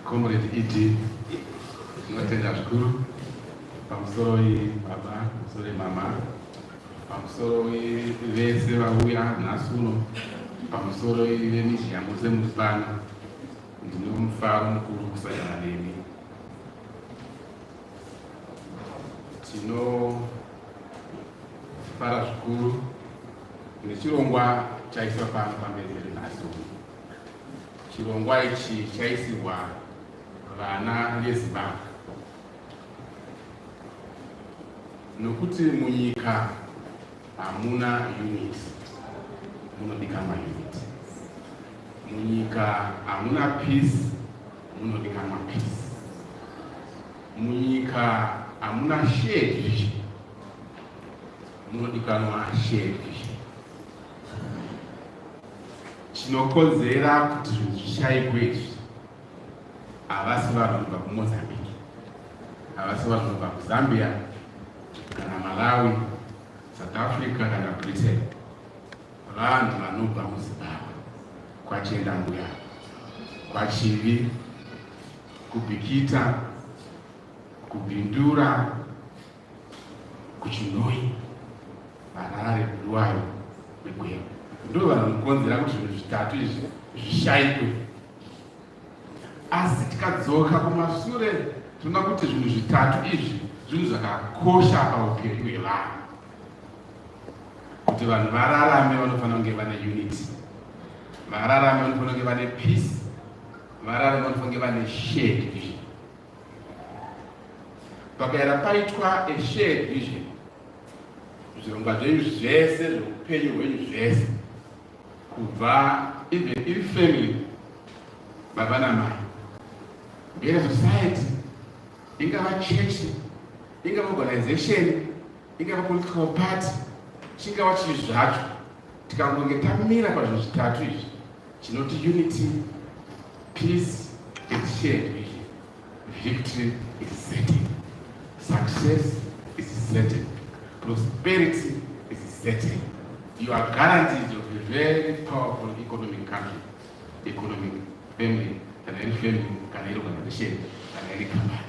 Comrade ED, tinotenda zvikuru pamusoroi baba, pamusoroi mama, pamusoroi vese vauya nhasi uno, pamusoroi vemizhiya mose muri pano. Ndine mufaro mukuru kusangana nemi. Tinofara zvikuru nechirongwa chaiswa pano pamberi pedu nhasi uno. Chirongwa ichi chaisirwa vana veZimbabwe nokuti munyika hamuna unit munodika maunit munyika hamuna peace munodika mapeace munyika hamuna shared vision munodikanwa shared vision chinokonzera kuti zvinhu zvishaikwe izvi havasi vanhu kubva kumozambique havasi vanhu kubva kuzambia kana malawi south africa kana britain vanhu vanobva muzimbabwe kwachienda mbuya kwachivi kubikita kubindura kuchinoi Harare Bulawayo neGweru ndivo vanhu vanokonzera kuti zvinhu zvitatu izvi zvishaikwe asi tikadzoka kumashure tinoda kuti zvinhu zvitatu izvi zvinhu zvakakosha paupenyu hwevanhu kuti vanhu vararame vanofanira kunge vane unity vararame vanofanira kunge vane peace vararame vanofanira kunge vane shared vision pakaera paitwa a shared vision zvirongwa zvenyu zvese zveupenyu hwenyu zvese kubva even iri family baba namai ngere society ingava church ingava organization ingava political party chingava chii zvacho tikangonge tamira pazvinhu zvitatu izvi Chinoti unity, peace and shared vision. Victory is certain. Success is certain. Prosperity is certain. You are guaranteed of a very powerful economic country, economic family, kana iri family, kana iri organization, kana iri company.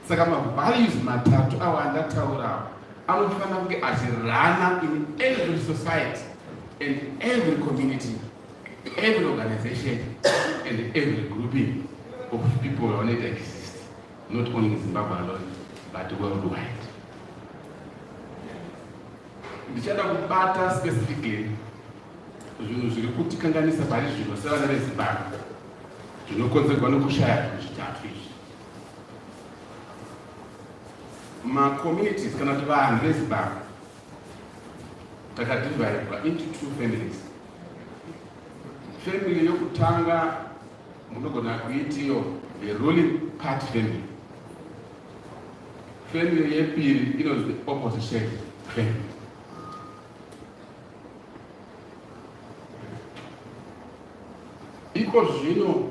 saka mavalues matatu awo andataurawo anofanira kunge achirana in every society and every community every organization and every grouping of people vanoita exist not only in zimbabwe alone but worldwide ndichada kubata specifically zvinhu zviri kutikanganisa pari zvino sevana vezimbabwe zvinokonzerwa nokushaya zvinhu zvitatu izvi macommunities kana kuti vanhu vezimbabwe takadivaidwa into two families family yokutanga munogona kuitiyo the ruling party family family yepiri inonzi the opposition family iko zvino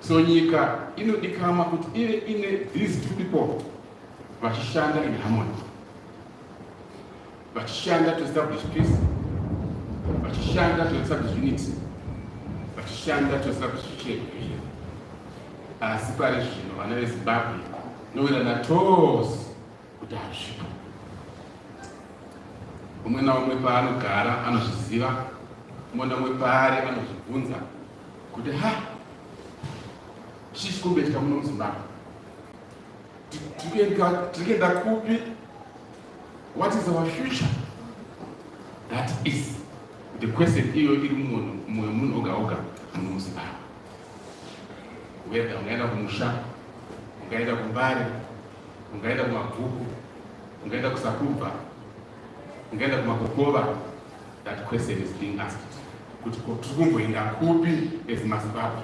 So nyika inodikama kuti ive ine these two people vachishanda in harmony, vachishanda to establish peace, vachishanda to establish unity, vachishanda to establish shared vision. Asi pari zvino vana veZimbabwe nowirana tose kuti hazvipo. Umwe naumwe paanogara anozviziva, umwe naumwe paari anozvibvunza kuti ha chichi kumbetya muno muzimbabwe tikuenda kupi what is our future that is the question iyo iri mumoyo munhu oga oga muno muzimbabwe weda ungaenda kumusha ungaenda kumbare ungaenda kumabhuku ungaenda kusakubva ungaenda kumakokova That question is being asked kuti tiri kumboenda kupi as mazimbabwe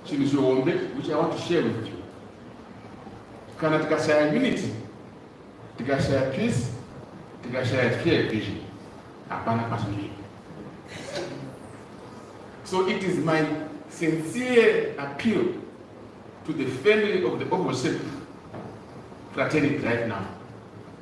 chinhu chihombe which i want to share with you kana tikashaya unity tikashaya peace tikashaya clear vision hapana kwatinoenda so it is my sincere appeal to the family of the opposition fraternity right now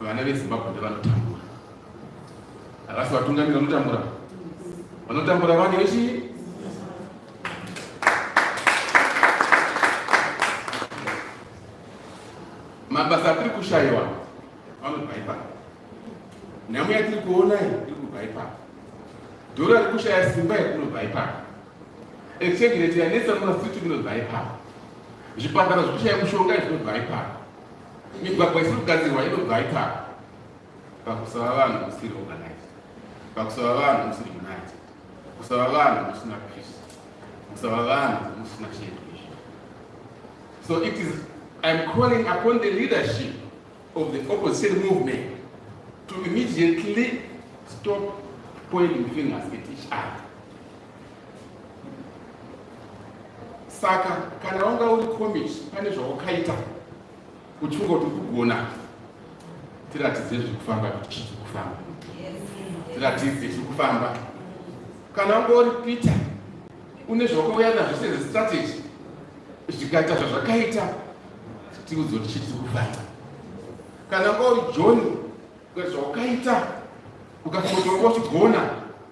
Vana veZimbabwe ndevanotambura. Havasi vatungamiri vanotambura. Vanotambura vane vechii? mabasa atiri kushayiwa anobva ipapo nhamo yatiri kuona iyi iri kubva ipapo dhora riri kushaya simba iri kunobva ipapo exchange rate yanetsa mumasiti inobva ipapo zvipatara zviri kushaya mushonga izvinobva ipapo Migwagwa isiri kugadzirwa inobva ipapa pakusava vanhu musiri organized, pakusava vanhu musiri united, kusava vanhu musina peace, kusava vanhu musina shared vision. So it is I'm calling upon the leadership of the opposition movement to immediately stop pointing fingers at each other. saka kana wanga uri komichi pane zvawakaita uchingo kuti kugona tiratidze zviri kufamba kuti chii chiri kufamba tiratidze chiri kufamba kana wanga uri peter une zvawakauya nazvo sezistrategy zvikaita zvazvakaita tiudze kuti chii chiri kufamba kana wanga uri john zvawakaita ukafotoka uchigona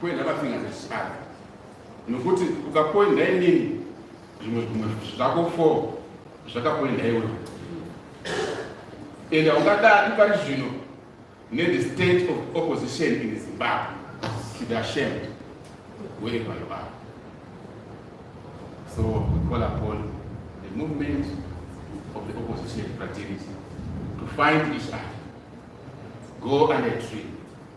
Kuenda pafinga zvechikadzi nokuti ukakuenda inini zvimwe zvimwe zvako fo zvakakuenda iwe and haungadadi pari zvino nethe state of opposition in zimbabwe should ashamed wherever you are so we call upon the movement of the opposition fraternity to find each other go under tree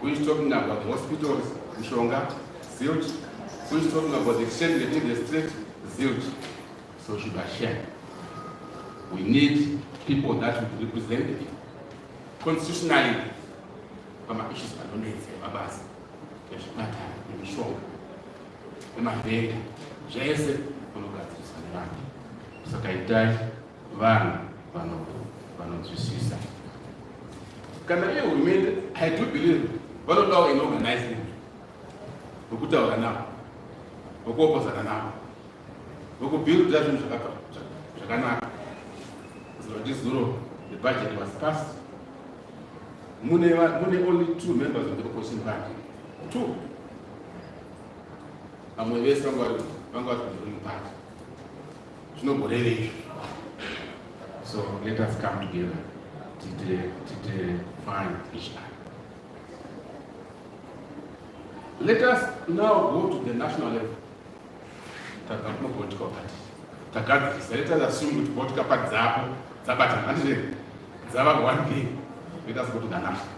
Who is talking about hospitals, Mishonga, zilch. Who is talking about the exchange rate in the street, zilch. So should I share? We need people that would represent the people. Constitutionally, kama issues anonetsa mabasa ezvipatara nemishonga nemavhenga zvese unogadziriswa nevanhu saka itai vanhu vanonzwisisa kana iye hurumende i do believe vanodawo inoorganizing vokutaura navo vokuopozana navo vokubuilda zvinhu zvakanaka zoti zuro the budget was passed mune mune only two members of the opposition party two vamwe vese vanga vari vanga vari kuruling party Zvinogoreve izvo. So let us come together. Tite, tite find each other. Let us now go to the national level. Takakuno political party. Takadzisa. Let us assume kuti political party dzapo dzabatana. Handizve dzava one thing. Let us go to the national.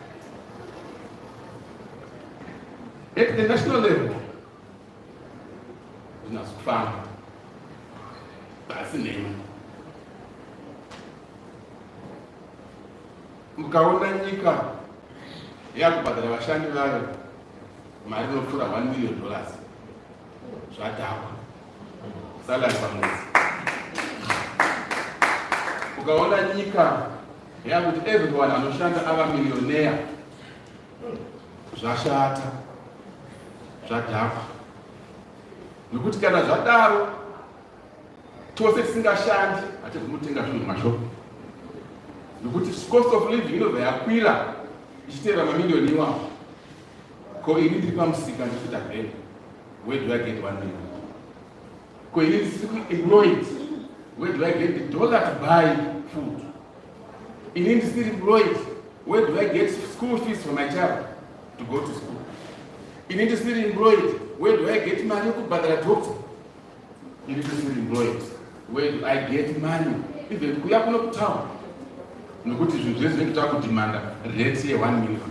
At the national level, zvinasi kufamba pasi nhema mukaona nyika yakubhadhara vashandi vayo mari inopfuura 1 million dollars zvadhakwa salary pamwedzi ukaona nyika yakuti everyone anoshanda ava millionaire zvashata zvadhakwa nokuti kana zvadaro tose tisingashandi hatizi kunotenga zvinhu mashopu nokuti cost of living inobva yakwira ichiteera mamiliyoni iwapo ko ini ndiri pamusika ndichita vheni where do i get one million ko ini ndisiri employed where do i get the dollar to buy food Ini ndisiri Lloyd, where do I get school fees for my child to go to school? Ini ndisiri employed, where do I get money yekubhadhara doctor? Ini ndisiri employed, where do I get money even kuya kuno kutown? Nokuti zvinhu zvese zvinenge takudimanda rate ye 1 million.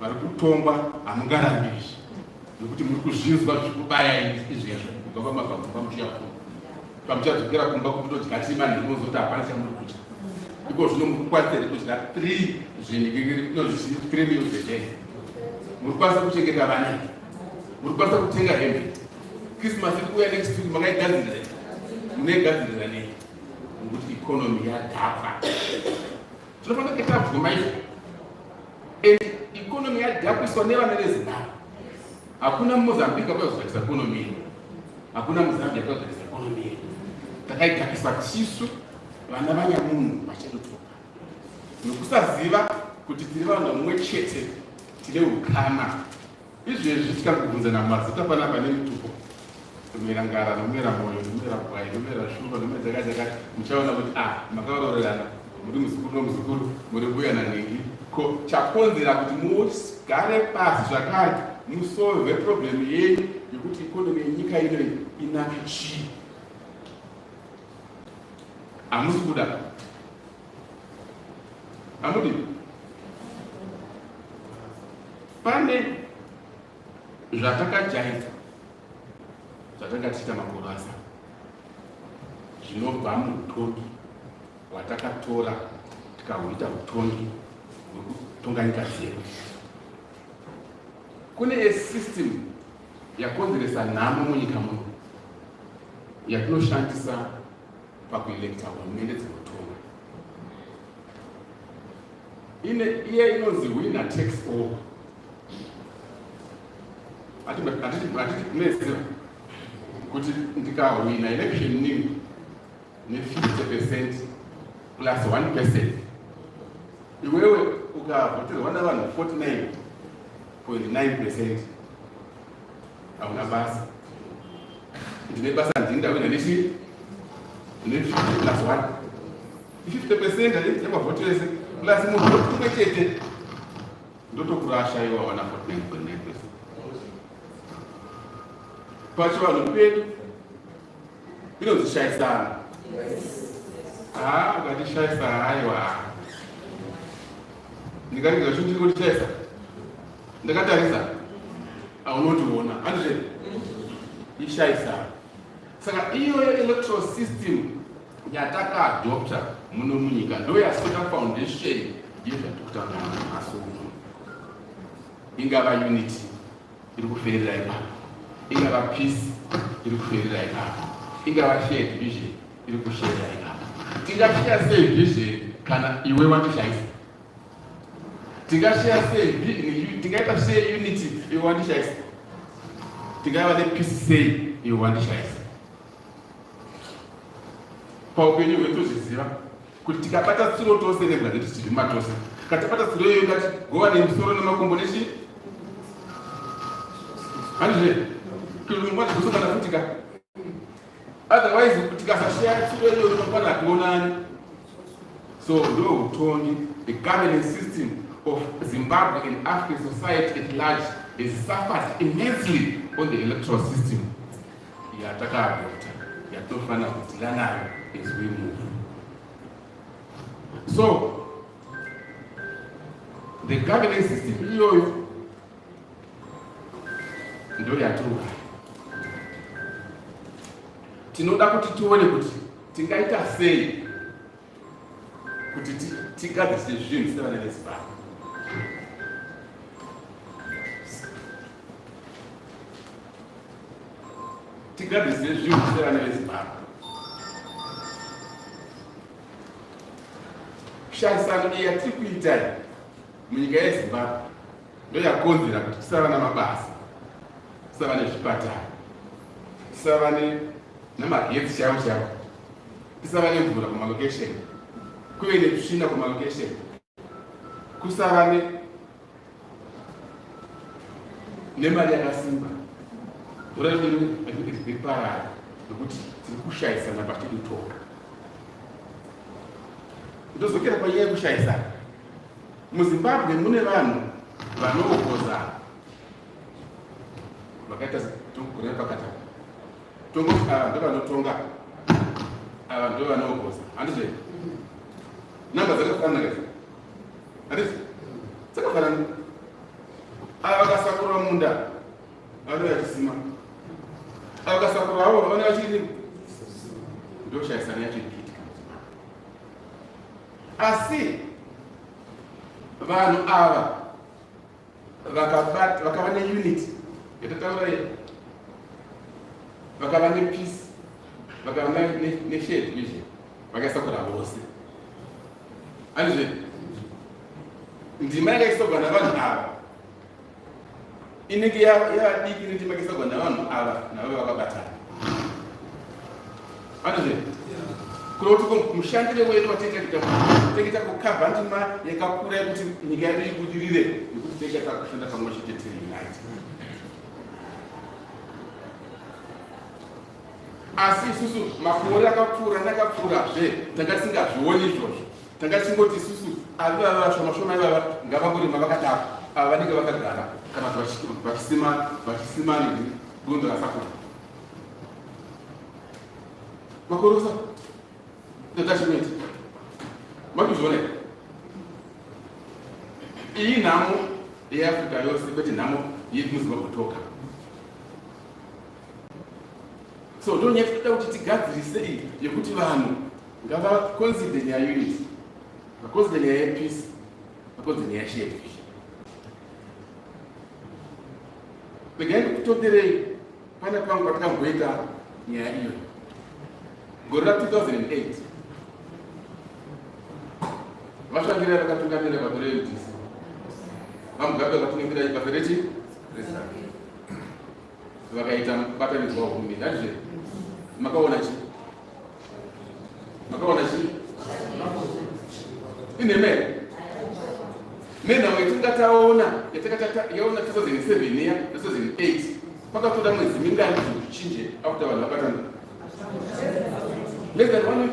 vari kutongwa hamungarambi izvi nekuti muri kuzvinzwa zvikubaya izvi hezvo kubva pamabvamu pamuchiya kumba pamuchadzokera kumba kutodya tima nekunozoti hapana chamuri kudya iko zvino muri kukwanisa here kudya three zvinhikiriikrimiuzedee muri kukwanisa kuchengeta vana muri kukwanisa kutenga hembe christmas iri kuuya next week makaigadzirira munoigadzirira nei nokuti ikonomi yadhakwa Tinofanira kuita bvuma izvo. And economy yadhapiswa nevana veZimbabwe. Hakuna muMozambique akazvakisa economy yedu. Hakuna muZambia akazvakisa economy yedu. Takaidhakisa tisu vana vanyamunhu vachadotoka. Nokusaziva kuti tiri vanhu vamwe chete tine ukama Izvezvi tikakubvunzana mazita panapa nemitupo nomera ngara nomera moyo nomera bwai nomera shumba nomera dzakati dzakati muchaona kuti a ah, makaororerana muri muzukuru nomuzukuru muri mbuya nanhingi ko chakonzera kuti mugare pasi zvakare musolve problem yenyu yekuti ikonomi yenyika inoi inake chii hamusi kuda Amudi. Pane zvatakajaidza zvatakatiita makurasa zvinobva muutongi hwatakatora tikahuita utongi hwekutonga nyika dzedu kune esystem yakonzeresa nhamo munyika muno yatinoshandisa pakuelekta hurumende dzinotonga ine iye inonzi wina tax over atitikunezira kuti ndikahwina election nini ne50 percent plus 1 percent iwewe ukavhoterwa navanhu 49.9 percent hauna basa ndine basa ndini ndawina nechi ne 50 plus 1 50 percent eh, yamavhoti ese plus munhu kumwe chete ndotokurasha iwe wawana 49.9 percent pachivanhu pedu Inonzi shaisana. Ah, ukati shaisa haiwa. Ndikaringa kuti ndiri kuti shaisa. Ndakatarisa. Aunotiona. Andizve. Ishaisa. Saka iyoyo electoral system yatakaadopta muno munyika ndo yasika foundation yezvatiri kutaura nhasi uno ingava unity iri kuferera ipapo ingava peace iri kuferera ipapo ingava shared vision iri kusherera ipapo tingashiya sei vision kana iwe wandishaisa tingashiya sei tingaita sei unity iwe wandishaisa tingava nepeace sei iwe wandishaisa paupenyu hwedu zviziva kuti tikabata tsuro tose nebwa dzedu tichirima tose katabata tsuro iyoyo ngati gova nemusoro nemakumbo nechi handizve kulimwazi kusongana futi ka otherwise kuti kasashaya tsuro iyoyo unokwana hationani so ndo utongi the governance system of zimbabwe and african society at large has suffered immensely on the electoral system yatakaadopta yatinofanira kudhila nayo as we move so the governance system iyoyo ndo yatuka tinoda kuti tione kuti tingaita sei kuti tigadzise zvinhu sevana vezimbabwe tigadzise zvinhu sevana vezimbabwe shaisano iya tiri kuita munyika yezimbabwe ndoyakonzera kuti tisava namabasa tisava nezvipatara tisava nemagetsi chavo chavo kusava nemvura kumalocation kuve netsvina kumalocation kusava nemari yakasimba mvura yodiriparara nokuti tiri kushayisana patiri kutora ndozokera panyaya yekushayisana muzimbabwe mune vanhu vanoogozana vakaita tokugona pakataka tongoti ava ndovanotonga ava ndovanogoza handizvo namba dzakafanana kazi handizvo dzakafanana ava vakasakura munda vanouya vachisima ava vakasakura avo vana vachii ndoshayisana yacho ikiitika asi vanhu ava vakabat vakava ne unity yatataura iyo vakava ne peace vakava ne shade izvi vakasakura vose andizve ndima yakaisogwa navanhu ava inenge yavadiki nendima yakaisogwa navanhu ava navo vakabatana Anozve. Kuna kuti ko mushandire wedu watete kita tekita ku cover ndima yakakura yekuti nyika yedu ibudirire nekuti tete takushanda pamwe chete tiri unite. Asi isusu makore akapfuura nakapfuura zve tanga tisingazvioni izvozvo. Tanga tisingoti isusu avi vava vashoma shoma ivava ngavangorima vakadaro ava vanenge vakagara kana kuti vachisima vachisima nini gondo rasakura. Makorosa. Detachment. Makuzviona here? Iyi nhamo yeAfrica yose kwete nhamo yedu muZimbabwe toka. So ndonyati toda kuti tigadzirise iyi yekuti vanhu ngavaconsider nyaya unity. Vaconsider nyaya yepeace. Makonzi neyashe yekufi. Regai ndikutonderei pana pangu patikamboita nyaya iyo gore ra 2008 vashandira vakatungamira bato reudc vamugabe vakatungamira bato rechi vakaita mubatanidzwa wehurumende handizve makaona chii makaona chii inhema here menhau yatinga taona yatakatayaona 2007 iya na 2008 pakatoda mwedzi mingani kuti zvichinje after vanhu vabatana less than one week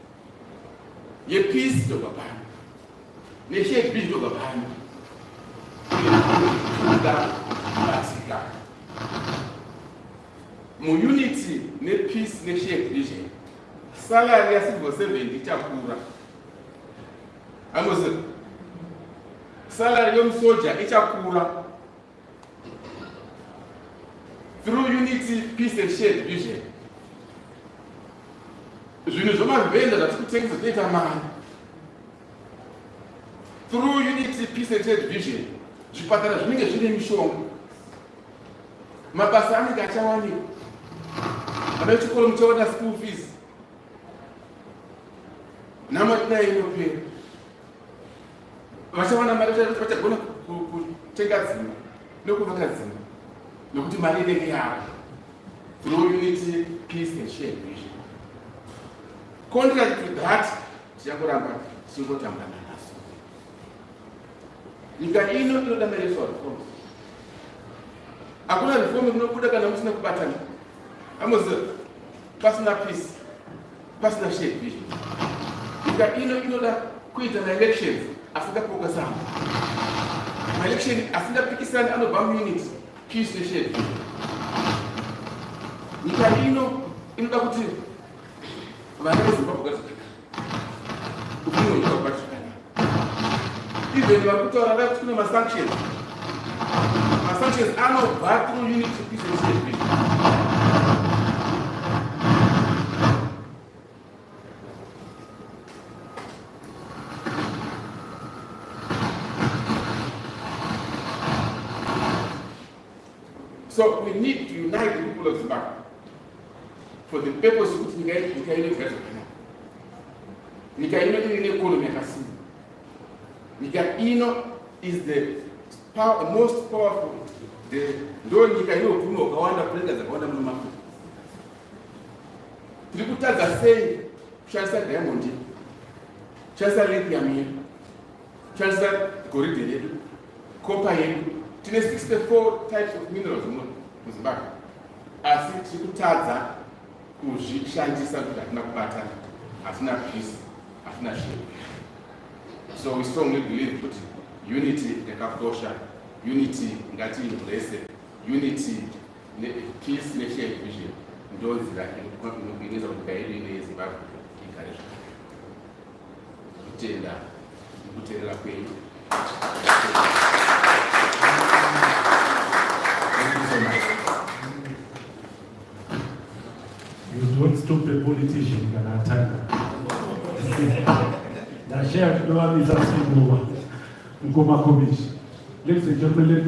yepeace ndobva pano nechb ndobva pano kubatsika muunity nepeace neshare division salary yacivil servant ichakura amozi salary yomusoja ichakura through unity peace and shared vision zvinhu zvomavhenda zvatiri kutengesa zvinoita mari through unity peace and shared vision zvipatara zvinenge zvine mishonga mabasa anenge achawanika vana vechikoro muchaona school fees nhamo tinai inopera vachawana mari vachagona kutenga dzimba nekuvaka dzimba nekuti mari inenge yavo through unity peace and share vision contract to that tichakuramba tichingotamba nanaso nyika ino inoda mareso reform hakuna reform inobuda kana musina kubatana amoziva pasina peace pasina shared vision nyika ino inoda kuita maelections asingapoka sana maelection asingapikisani anobva muunit peace neshared vision nyika ino inoda kuti vana vezimbabwe gadzikana ufunonyika kubatikana even vari kutaura nda kuti kune masanctions masanctions anobva through unit representation So we need to unite the people of Zimbabwe for the purpose of nyika yedu nyika ine kugadzo kana nyika ino iri ne economy yakasimba nyika ino is the power, most powerful the ndo nyika ino utume wakawanda kurenga dzakawanda muno mako tiri kutadza sei kushandisa diamond kushandisa lithium yedu Chaza goridhe redu, kopa yedu, tine 64 types of minerals muno muZimbabwe, asi tiri kutadza kuzvishandisa kuti hatina kubatana, hatina peace, hatina zvinhu. So we strongly believe kuti unity yakakosha, unity ngati blessed, unity ne peace ne shared vision ndonzira inoita kuti nyika yedu ine yeZimbabwe igare zvakanaka. Kutenda kuterera kwenyu. You don't stop a politician kana atanga. Ndashaya kudovamisa sindova mkoma komishi. Ladies and gentlemen,